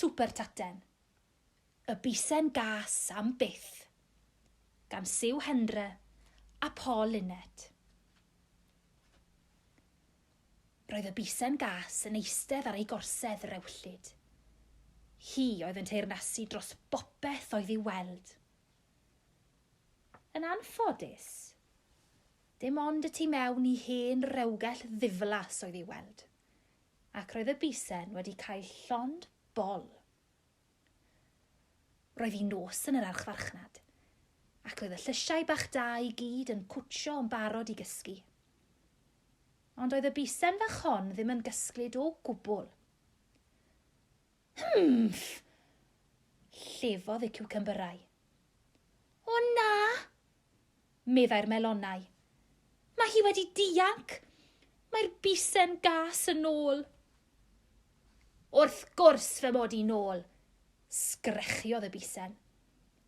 Super Taten. Y bisen gas am byth. Gan Siw Hendre a Paul Linnet. Roedd y bisen gas yn eistedd ar ei gorsedd rewllyd. Hi oedd yn teyrnasu dros bopeth oedd i'w weld. Yn anffodus, dim ond y tu mewn i hen rewgell ddiflas oedd i'w weld, ac roedd y bisen wedi cael llond bol Roedd hi'n nos yn yr archfarchnad, ac oedd y llysiau bach da i gyd yn cwtsio yn barod i gysgu. Ond oedd y bisen fach hon ddim yn gysglyd o gwbl. Hymff! Llefodd y ciwcymbyrau. O na! meddai'r melonau. Mae hi wedi dianc! Mae'r bisen gas yn ôl! Wrth gwrs fy mod i'n ôl! sgrechiodd y bisen.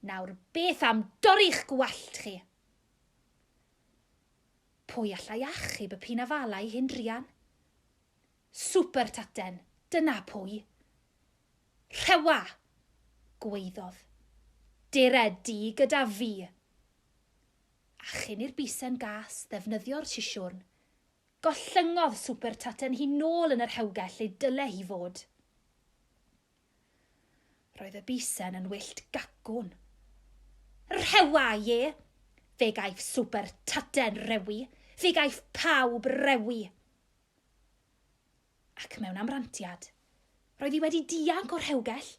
Nawr beth am dorri'ch gwallt chi? Pwy allai achub y pinafalau hyn druan? Swper taten, dyna pwy. Rhewa! gwaeddodd. Dere di gyda fi! A chyn i'r bisen gas ddefnyddio'r sisiwrn, gollyngodd Swper taten hi nôl yn y rhewgell lle dyle hi fod. Roedd y bisen yn wyllt gacwn. Rhewa, ie! Fe gaiff Swper taten rewi! Fe gaiff pawb rewi! Ac mewn amrantiad, roedd hi wedi dianc o'r rhewgell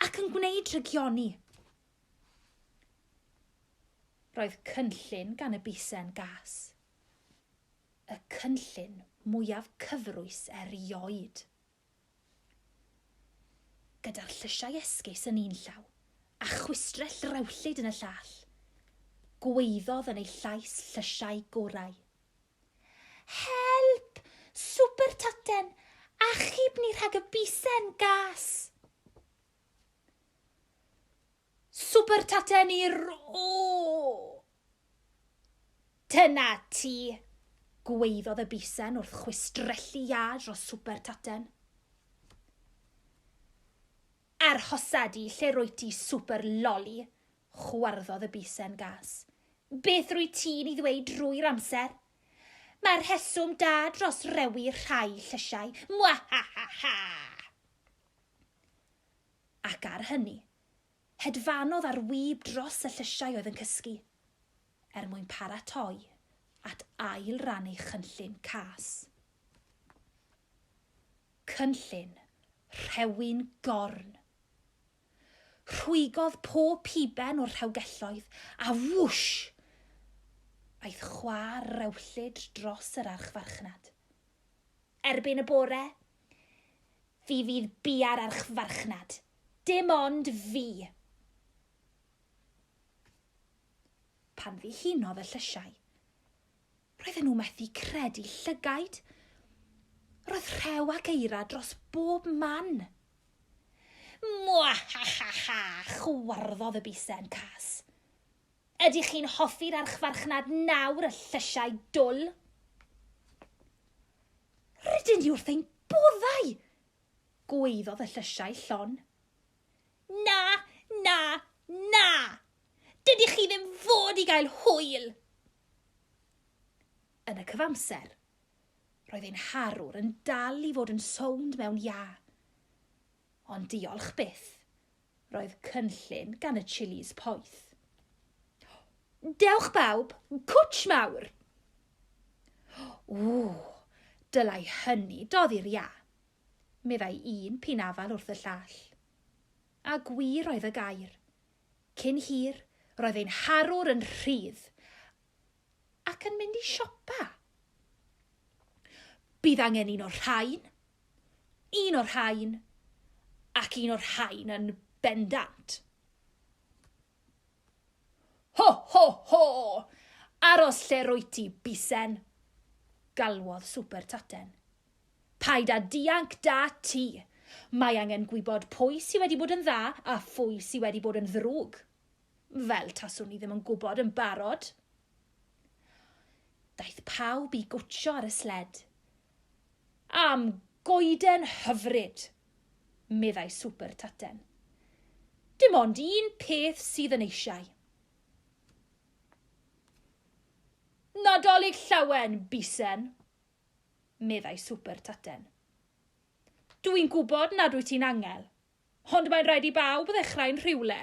ac yn gwneud rhygioni. Roedd cynllun gan y bisen gas. Y cynllun mwyaf cyfrwys erioed. gyda'r llysiau esgus yn un llaw, a chwistrell rewllyd yn y llall, gwaeddodd yn ei llais llysiau gorau. Help! Swper Taten! Achub ni rhag y bisen gas! Swper taten i'r o! Dyna ti! gwaeddodd y bisen wrth chwistrellu iâ dros swper taten. Arhosa di, lle rwy ti swper loli, chwarddodd y bisen gas. Beth rwy ti'n ei ddweud drwy'r amser? Mae'r rheswm da dros rewi rhai llysiau. Mwahahaha! Ac ar hynny, hedfanodd ar wib dros y llysiau oedd yn cysgu, er mwyn paratoi at ail ran ei chynllun cas. Cynllun rhewyn gorn. Rhwygodd pob piben o'r rhewgelloedd, a wwsh! aeth chwa'r rewllyd dros yr archfarchnad. Erbyn y bore, fi fydd bia'r archfarchnad. Dim ond fi! Pan ddihunodd y llysiau, roedden nhw methu credu llygaid. Roedd rhew ac eira dros bob man. Mwahahaha, chwarddodd y bisen cas. Ydych chi'n hoffi'r archfarchnad nawr y llysiau dwl? Rydyn ni wrth ein boddau! gwaeddodd y llysiau llon. Na, na, na! Dydych chi ddim fod i gael hwyl! Yn y cyfamser, roedd ein harwr yn dal i fod yn sownd mewn iâ. Ond diolch byth, Roedd cynllun gan y Chillies poeth. Dewch bawb, cwtsh mawr! Ww, dylai hynny doddi'r ia, meddai un pin afal wrth y llall. A gwir oedd y gair. Cyn hir, roedd ein harwr yn rhydd ac yn mynd i siopa. Bydd angen un o'r rhain, Un o'r rhain, ac un o'r rhain yn bendant. Ho, ho, ho! Aros lle rwyt ti, bisen! galwodd Swper Taten. Paid â dianc da ti! Mae angen gwybod pwy sydd wedi bod yn dda a phwy sydd wedi bod yn ddrwg. Fel taswn ni ddim yn gwybod yn barod. Daeth pawb i gwtsio ar y sled. Am goeden hyfryd! meddai Swper Taten. Dim ond un peth sydd yn eisiau. Nadolig llawen, Bisen, meddai Swper Taten. Dw i'n gwybod nad wyt ti'n angel, ond mae'n rhaid i bawb ddechrau'n rhywle.